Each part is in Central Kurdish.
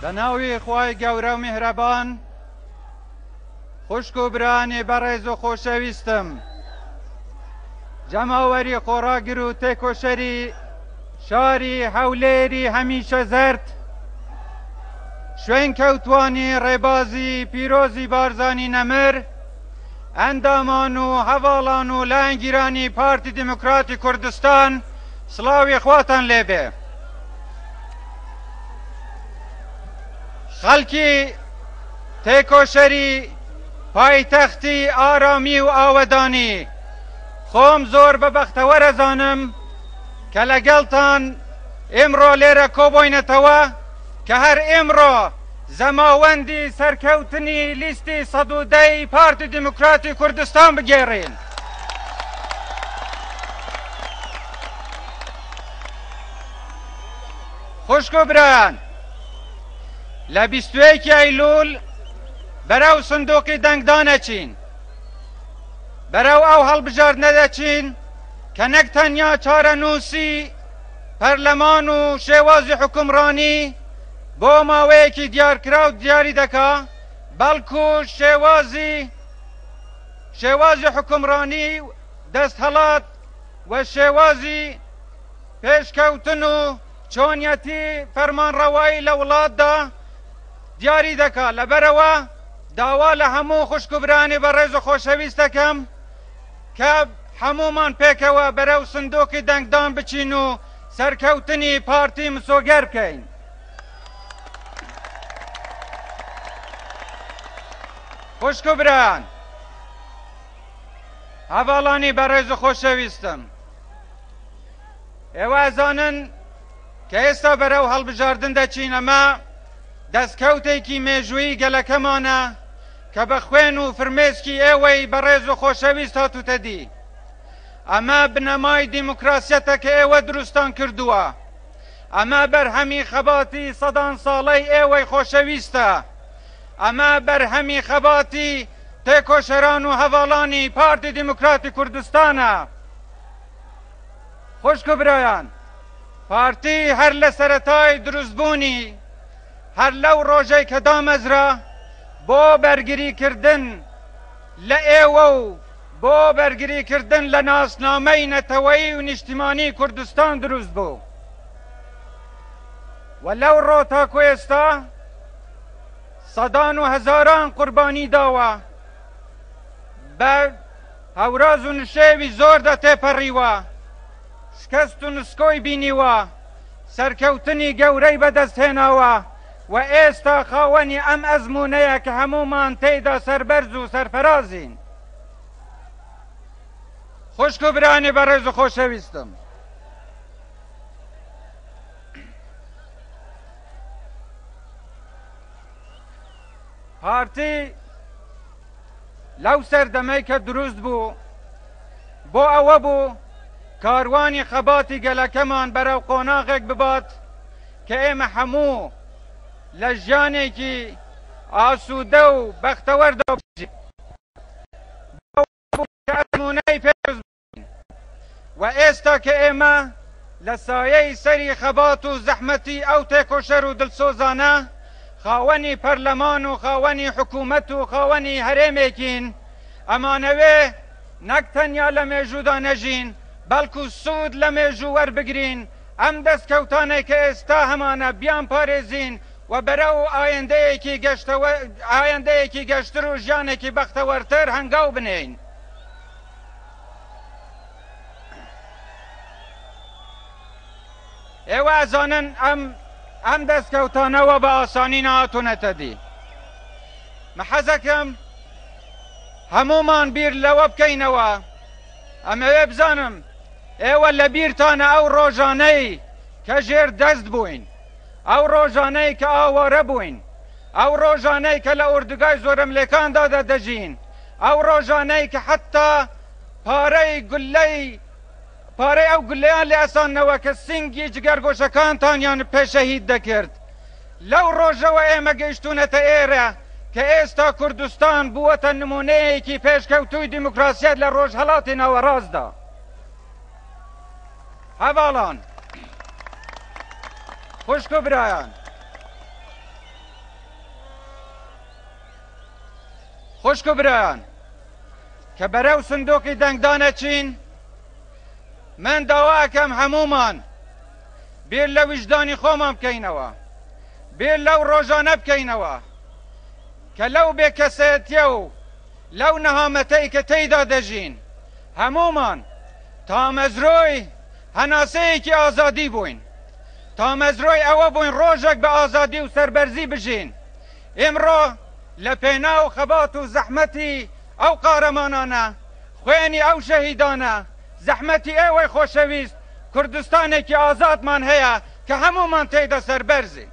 بە ناوی خوای گەورە و میهرەبان خوشک و برانی بەڕێز و خۆشەویستم جەماوەری خۆڕاگر و تێکۆشەری شاری هەولێری هەمیشە زەرد شوێن کەوتانی ڕێبازی پیرۆزی بارزانی نەمر ئەندامان و هەواڵان و لایەنگیرانی پارتی دیموکراتی کوردستان سڵاوی خواتان لێبێ خەڵکی تێکۆشەری پایتەختی ئارامی و ئاوەدانی خۆم زۆر بە بەختەوەرەزانم کە لەگەڵتان ئێمڕۆ لێرە کۆبۆینەتەوە کە هەر ئێمڕۆ زەماوەندی سەرکەوتنی لیستی سەدودەی پارتی دیموکراتی کوردستان بگێڕین. خوشک و برایان لە بیستوەیەکی ئەیلول بەرەو سندوقی دەنگدان ئەچین بەرەو ئەو هەڵبژاردنە دەچین کە نەک تەنیا چارەنووسی پەرلەمان و شێوازی حکومڕانی بۆ ماوەیەکی دیارکراو دیاری دەکا بەڵکو شێوازی شێوازی حوکمڕانی و دەستهەڵات و شێوازی پێشکەوتن و چۆنیەتی فەرمانڕەوایی لە وڵاتدا دیاری دەکات، لەبەرئەوە داوا لە هەموو خوشک و برایانی بەڕێز و خۆشەویست دەکەم کە هەموومان پێکەوە بەرەو سندوقی دەنگدان بچین و سەرکەوتنی پارتی مسۆگەر بکەین. خوشک و برایان هەڤاڵانی بەڕێز و خۆشەویستم ئێوازانن کە ئێستا بەرەو هەڵبژاردن دەچین ئەمە دەستکەوتێکی مێژووی گەلەکەمانە کە بە خوێن و فرمێسکی ئێوەی بەڕێز و خۆشەویست هاتوتە دی ئەمە بنەمای دیموکراسیەتە کە ئێوە دروستان کردووە ئەمە بەرهەمی خەباتی سەدان ساڵەی ئێوەی خۆشەویستە ئەمە بەرهەمی خەباتی تێکۆشەران و هەڤاڵانی پارتی دیموکراتی کوردستانە. خوشک و برایان، پارتی هەر لە سەرەتای دروستبوونی، هەر لەو ڕۆژەی کە دامەزرا، بۆ بەرگریکردن لە ئێوە و بۆ بەرگریکردن لە ناسنامەی نەتەوەیی و نیشتیمانی کوردستان دروست بوو. و لەو ڕۆ تاکو ئێستا سەدان و هەزاران قوربانی داوە بە هەوراز و نشێوی زۆردا تێپەڕیوە شکەست و نسکۆی بینیوە سەرکەوتنی گەورەی بەدەست هێناوە و ئێستا خاوەنی ئەم ئەزموونەیە کە هەموومان تێیدا سەربەرز و سەرفەرازین خوشک و برانی بەڕێز و خۆشەویستم. پارتی لەو سەردەمەی کە دروست بوو بۆ ئەوە بوو کاروانی خەباتی گەلەکەمان بەرەو قۆناغێک ببات کە ئێمە هەموو لە ژیانێکی ئاسوودە و بەختەوەردا بژین ئەزمونەی پێشمونەی و ئێستا کە ئێمە لە سایەی سەری خەبات و زەحمەتی ئەو تێکۆشەر و دڵسۆزانە خاوەنی پەرلەمان و خاوەنی حکوومەت و خاوەنی هەرێمێکین، ئەمانەوێ نەک تەنیا لە مێژوودا نەژین، بەڵکو سوود لە مێژوو وەربگرین، ئەم دەستکەوتانەی کە ئێستا هەمانە بیانپارێزین و بەرەو ئایندەیەکی گەشتر و ژیانێکی بەختەوەرتر هەنگاو بنێین. ئێوە ئەزانن ئەم ئەم دەستکەوتانەوە بە ئاسانی نهاتونەتە دی محەزەکەم هەمومان بیر لەوە بکەینەوە ئەمەوێ بزانم ئێوە لە بیرتانە ئەو ڕۆژانەی کە ژێر دەست بووین ئەو ڕۆژانەی کە ئاوارە بووین، ئەو ڕۆژانەی کە لە ئۆردوگای زۆرەملێکاندا دەژین، ئەو ڕۆژانەی کە حەتتا پارەی گوللەی پارەی ئەو گوللەیان لێ ئەساندنەوە کە سنگی جگەرگۆشەکانتانیان پێ شەهید دەکرد. لەو ڕۆژەوە ئێمە گەیشتوونەتە ئێرە کە ئێستا کوردستان بووەتە نموونەیەکی پێشکەوتووی دیموکراسیەت لە ڕۆژهەڵاتی ناوەڕاستدا. هەڤاڵان، خوشک و برایان، خوشک و برایان کە بەرەو سندوقی دەنگدان ئەچین، من داوا ئەکەم هەموومان بیر لە ویژدانی خۆمان بکەینەوە، بیر لەو ڕۆژانە بکەینەوە کە لەو بێکەسێتیە و لەو نەهامەتەی کە تێیدا دەژین، هەموومان تامەزرۆی هەناسەیەکی ئازادی بووین، تامەزرۆی ئەوە بووین ڕۆژێک بە ئازادی و سەربەرزی بژین. ئیمڕۆ لە پێناو خەبات و زەحمەتی ئەو قارەمانانە، خوێنی ئەو شەهیدانە، زەحمەتی ئێوەی خۆشەویست، کوردستانێکی ئازادمان هەیە کە هەموومان تێیدا سەربەرزین.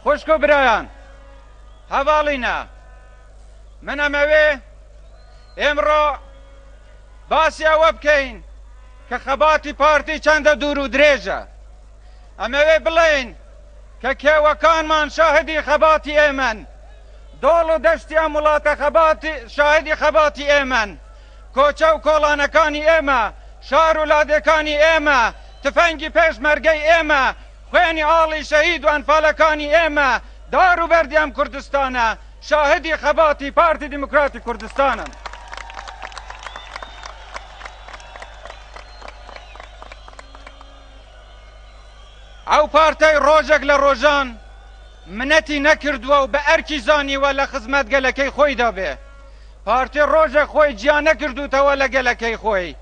خوشک و برایان هەڤاڵینە من ئەمەوێ ئێمڕۆ باسی ئەوە بکەین کە خەباتی پارتی چەندە دوور و درێژە ئەمەوێ بڵێین کە کێوەکانمان شاهدی خەباتی ئێمەن دۆڵ و دەشتی ئەم وڵاتە خەباتی شاهدی خەباتی ئێمەن کوچە و کۆڵانەکانی ئێمە، شار و لادێکانی ئێمە، تفەنگی پێشمەرگەی ئێمە، خوێنی ئاڵی شەهید و ئەنفالەکانی ئێمە، دار و بەردی ئەم کوردستانە، شاهدی خەباتی پارتی دیموکراتی کوردستانن. ئەو پارتەی ڕۆژێک لە ڕۆژان منەتی نەکردووە و بە ئەرکی زانیوە لە خزمەت گەلەکەی خۆیدا بێ، پارتی ڕۆژێک خۆی جیا نەکردووتەوە لە گەلەکەی خۆی،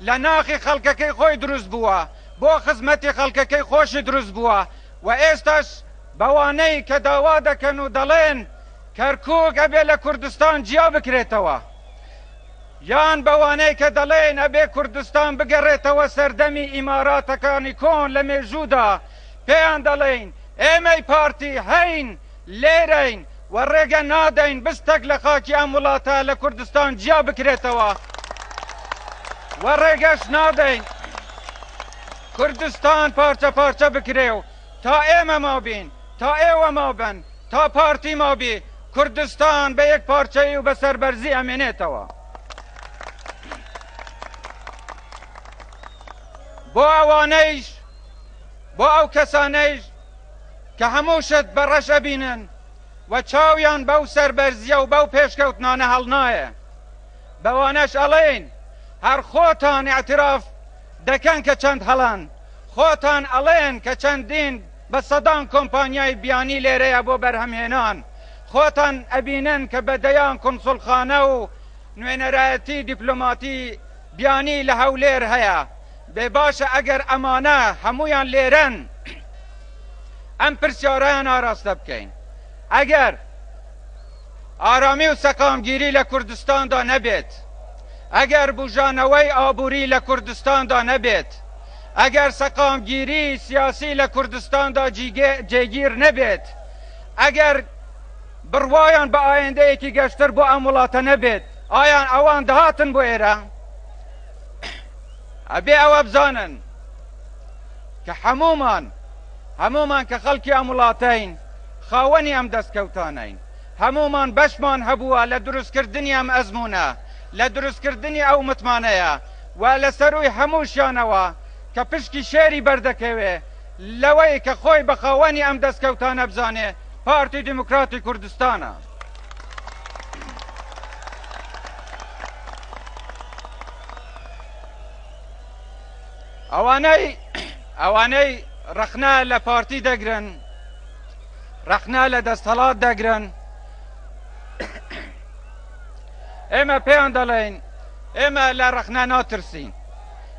لە ناخی خەڵکەکەی خۆی دروست بووە، بۆ خزمەتی خەڵکەکەی خۆشی دروست بووە و ئێستاش بەوانەی کە داوا دەکەن و دەڵێن کەرکوک ئەبێ لە کوردستان جیا بکرێتەوە یان بەوانەی کە دەڵێن ئەبێ کوردستان بگەڕێتەوە سەردەمی ئیماراتەکانی کۆن لە مێژوودا پێیان دەڵێین ئێمەی پارتی هەین لێرەین و ڕێگە نادەین بستێک لە خاکی ئەم وڵاتە لە کوردستان جیا بکرێتەوە و ڕێگەش نادەین کوردستان پارچە پارچە بکرێ و تا ئێمە مابین، تا ئێوە مابن، تا پارتی مابی، کوردستان بە یەکپارچەیی و بە سەربەرزی ئەمێنێتەوە. بۆ ئەوانەیش، بۆ ئەو کەسانەیش کە هەموو شت بە ڕەش ئەبینن و چاویان بەو سەربەرزیە و بەو پێشکەوتنانە هەڵنایە، بەوانەش ئەڵێین هەر خۆتان ئیعتراف دەکەن کە چەند هەڵەن، خۆتان ئەڵێن کە چەندین بە سەدان کۆمپانیای بیانی لێرەیە بۆ بەرهەمهێنان، خۆتان ئەبینن کە بە دەیان کونسوڵخانە و نوێنەرایەتی دیپلۆماتی بیانی لە هەولێر هەیە، بێ باشە ئەگەر ئەمانە هەموویان لێرەن ئەم پرسیارەیان ئاراستە بکەین ئەگەر ئارامی و سەقامگیری لە کوردستاندا نەبێت ئەگەر بژانەوەی ئابووری لە کوردستاندا نەبێت ئەگەر سەقامگیری سیاسی لە کوردستاندا جێگیر نەبێت ئەگەر بڕوایان بە ئایندەیەکی گەشتر بۆ ئەم وڵاتە نەبێت ئایان ئەوان دەهاتن بۆ ئێرە ئەبێ ئەوە بزانن کە هەمومان هەمومان کە خەڵکی ئەم وڵاتەین خاوەنی ئەم دەستکەوتانین هەمومان بەشمان هەبووە لە دروستکردنی ئەم ئەزمونە لە دروستکردنی ئەو متمانەیە و لە سەروی هەمووشیانەوە کە پشکی شێری بەردەکەوێ لەوەی کە خۆی بە خاوەنی ئەم دەستکەوتانە بزانێ پارتی دیموکراتی کوردستانە. ئەوانەی ڕەخنا لە پارتی دەگرن ڕەخنا لە دەستهڵات دەگرن ئێمە پێیان دەڵێن ئێمە لە ڕەخنا ناترسین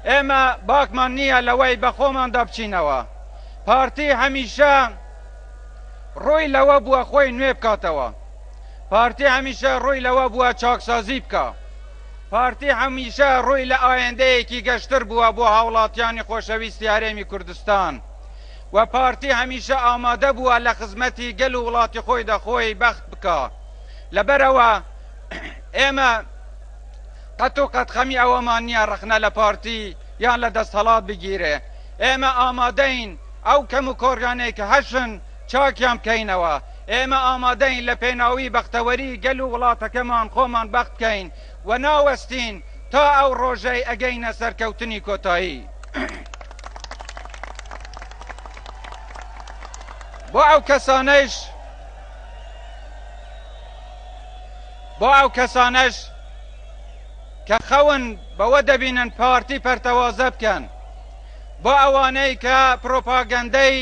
ئێمە باکمان نییە لەوەی بەخۆماندا بچینەوە پارتی هەمیشە ڕووی لەوە بووە خۆی نوێ بکاتەوە، پارتی هەمیشە ڕووی لەوە بووە چاکسازی بکا، پارتی هەمیشە ڕووی لە ئایندەیەکی گەشتر بووە بۆ هاوڵاتیانی خۆشەویستی هەرێمی کوردستان و پارتی هەمیشە ئامادە بووە لە خزمەتی گەل و وڵاتی خۆیدا خۆی بەخت بکا لەبەرئەوە ئێمە قەت و قەت خەمی ئەوەمان نییە ڕەخنە لە پارتی یان لە دەستهەڵات بگیرێ. ئێمە ئامادەین ئەو کەموکۆڕیانەی کە هەشن چاکیان بکەینەوە. ئێمە ئامادەین لە پێناوی بەختەوەری گەل و وڵاتەکەمان خۆمان بەخت بکەین و ناوەستین تا ئەو ڕۆژەی ئەگەینە سەرکەوتنی کۆتایی. بۆ ئەو کەسانەیش. بۆ ئەو کەسانەش کە خەون بەوە دەبینن پارتی پەرتەوازە بکەن، بۆ ئەوانەی کە پرۆپاگەندەی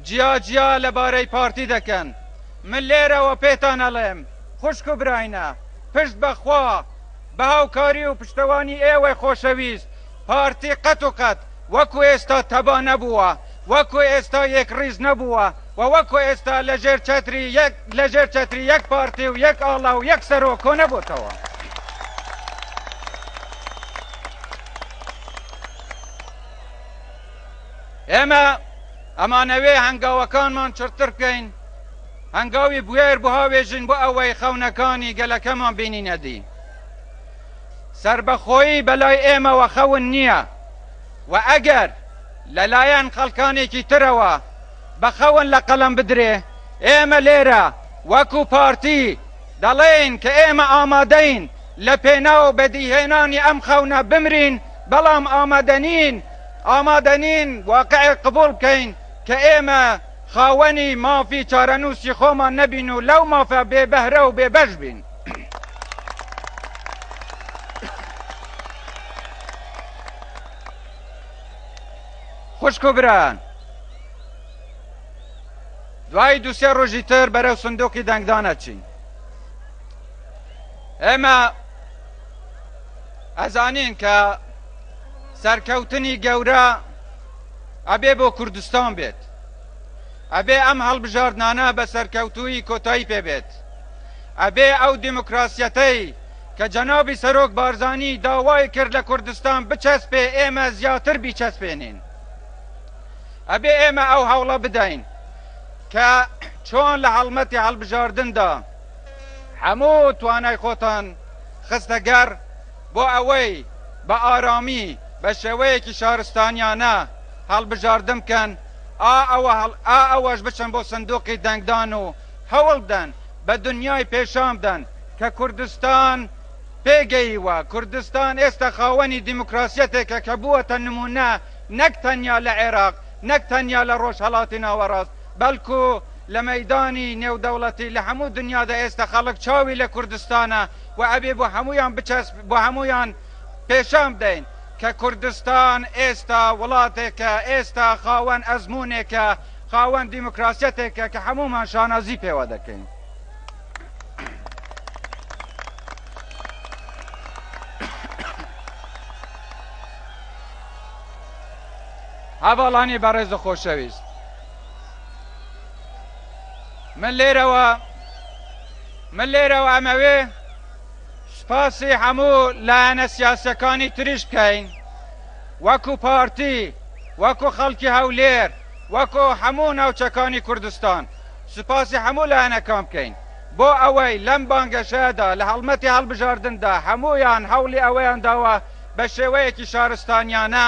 جیاجیا لەبارەی پارتی دەکەن، من لێرەوە پێتان ئەڵێم، خوشک و براینە، پشت بە خوا، بە هاوکاری و پشتەوانی ئێوەی خۆشەویست، پارتی قەت و قەت وەکو ئێستا تەبا نەبووە، وەکو ئێستا یەکڕیز نەبووە و وەکو ئێستا لەژێر چەتری یەک لەژێر چەتری یەک پارتی و یەک ئاڵا و یەک سەرۆک کۆنەبۆتەوە. ئێمە ئەمانەوێ هەنگاوەکانمان چڕتر بکەین، هەنگاوی بوێر بهاوێژین بۆ ئەوەی خەونەکانی گەلەکەمان بینینە دی. سەربەخۆیی بەلای ئێمەوە خەون نییە و ئەگەر لەلایەن خەڵکانێکی ترەوە بە خەون لە قەڵەم بدرێ، ئێمە لێرە وەکو پارتی دەڵێین کە ئێمە ئامادەین لە پێناو بەدیهێنانی ئەم خەونە بمرین، بەڵام ئامادەنین ئامادەنین واقعێک قبوڵ بکەین کە ئێمە خاوەنی مافی چارەنووسی خۆمان نەبین و لەو مافە بێ بەهرە و بێ بەش بین. خوشک و بران دوای دوسێ ڕۆژی تر بەرەو سندوقی دەنگدانەچین ئێمە ئەزانین کە سەرکەوتنی گەورە ئەبێ بۆ کوردستان بێت ئەبێ ئەم هەڵبژاردنانە بە سەرکەوتووی کۆتایی پێ بێت ئەبێ ئەو دیموکراسیەتەی کە جەنابی سەرۆک بارزانی داوای کرد لە کوردستان بچەسپێ ئێمە زیاتر بیچەسپێنین. ئەبێ ئێمە ئەو هەوڵە بدەین کە چۆن لە هەڵمەتی هەڵبژاردندا هەموو توانای خۆتان خستە گەڕ بۆ ئەوەی بە ئارامی بە شێوەیەکی شارستانیانە هەڵبژاردن بکەن ئا ئەوە هەڵ ئا ئەوەش بچن بۆ سندوقی دەنگدان و هەوڵدەن بە دنیای پێشانبدەن کە کوردستان پێگەییوە، کوردستان ئێستا خاوەنی دیموکراسیەتێکە کە بووەتە نموونە نەک تەنیا لە عێراق، نەک تەنیا لە ڕۆژهەڵاتی ناوەڕاست، بەڵکو لە مەیدانی نێودەوڵەتی لە هەموو دنیادا ئێستا خەڵک چاوی لە کوردستانە و ئەبێ بۆ هەموویان بچەسپێت، بۆ هەموویان پێشانبدەین کە کوردستان ئێستا وڵاتێکە، ئێستا خاوەن ئەزموونێکە، خاوەن دیموکراسیەتێکە کە هەموومان شانازی پێوە دەکەین. هەڤاڵانی بەڕێز و خۆشەویست من لێرەوە من لێرەوە ئەمەوێ سپاسی هەموو لایەنە سیاسەکانی تریش بکەین وەکو پارتی، وەکو خەڵکی هەولێر، وەکو هەموو ناوچەکانی کوردستان سوپاسی هەموو لایەنەکان بکەین بۆ ئەوەی لەم بانگەشەیەدا لە هەڵمەتی هەڵبژاردندا هەموویان هەوڵی ئەوەیان داوە بە شێوەیەکی شارستانیانە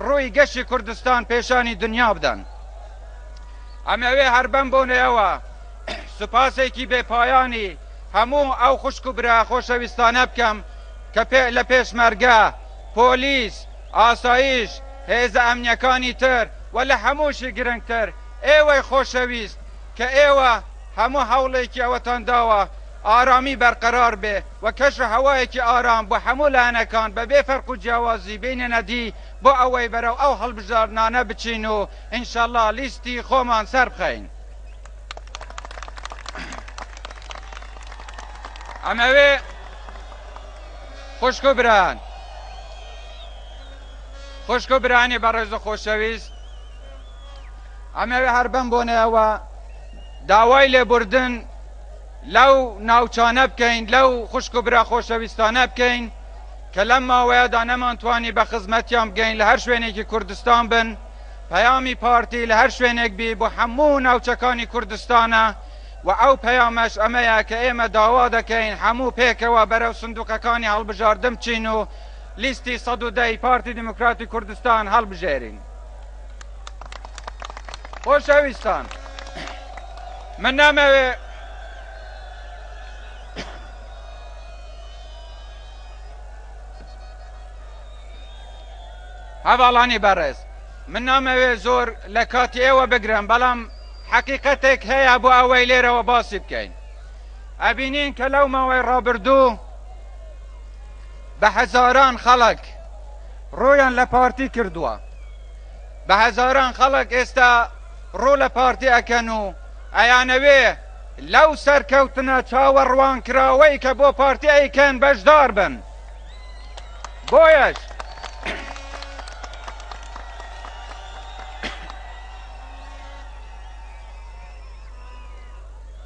ڕووی گەشی کوردستان پێشانی دنیا بدەن. ئەمەوێ هەر بەم بۆنەیەوە سوپاسێکی بێ پایانی هەموو ئەو خوشک و برا خۆشەویستانە بکەم کە لە پێشمەرگە، پۆلیس، ئاسایش، هێزە ئەمنیەکانی تر و لە هەمووشی گرنگتر ئێوەی خۆشەویست کە ئێوە هەموو هەوڵێکی ئەوەتان داوە ئارامی بەرقەرار بێ و کەش و هەوایەکی ئارام بۆ هەموو لایەنەکان بە بێ فەرق و جیاوازی بێننە دی بۆ ئەوەی بەرەو ئەو هەڵبژاردنانە بچین و ئینشەڵا لیستی خۆمان سەربخەین. ئەمەوێ. خوشک و برایان خوشک و برانی بەڕێز و خۆشەویست ئەمەوێ هەر بەم بۆنەوە داوای لێبوردن لەو ناوچانە بکەین لەو خوشک و برا خۆشەویستانە بکەین کە لەم ماوەیەدا نەمانتوانی بە خزمەتیان بگەین لە هەر شوێنێکی کوردستان بن پەیامی پارتی لە هەر شوێنێک بی بۆ هەموو ناوچەکانی کوردستانە وە ئەو پەیامەش ئەمەیە کە ئێمە داوا دەکەین هەموو پێکەوە بەرەو سندوقەکانی هەڵبژاردن بچین و لیستی سەد و دە ی پارتی دیموکراتی کوردستان هەڵبژێرین. خۆشەویستان من نامەوێ هەڤاڵانی بەڕێز من نامەوێ زۆر لە کاتی ئێوە بگرم بەڵام حەقیقەتێک هەیە بۆ ئەوەی لێرەوە باسی بکەین ئەبینین کە لەو ماوەی ڕابردوو بە هەزاران خەڵک ڕۆیان لە پارتی کردووە بە هەزاران خەڵک ئێستا ڕوو لە پارتی ئەکەن و ئەیانەوێ لەو سەرکەوتنە چاوەڕوانکراوەی کە بۆ پارتی ئەیکەن بەشدار بن بۆیەش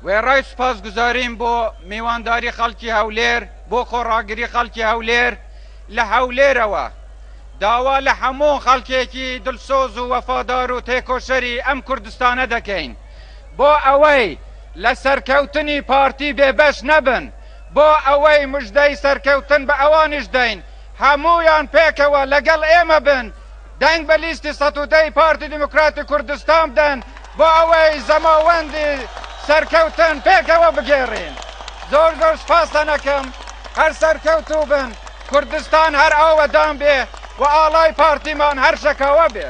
وێڕای سوپاسگوزاریم بۆ میوانداری خەڵکی هەولێر بۆ خۆڕاگری خەڵکی هەولێر لە هەولێرەوە داوا لە هەموو خەڵکێکی دلسۆز و وەفادار و تێکۆشەری ئەم کوردستانە دەکەین بۆ ئەوەی لە سەرکەوتنی پارتی بێبەش نەبن بۆ ئەوەی مژدەی سەرکەوتن بە ئەوانیش دەین هەموویان پێکەوە لەگەڵ ئێمە بن دەنگ بە لیستی سەد و دە ی پارتی دیموکراتی کوردستان بدەن بۆ ئەوەی زەماوەندی سەرکەوتن پێکەوە بگێڕین زۆر زۆر سوپاستان ئەکەم هەر سەرکەوتوو بن کوردستان هەر ئاوەدان بێ و ئاڵای پارتیمان هەر شەکاوە بێ.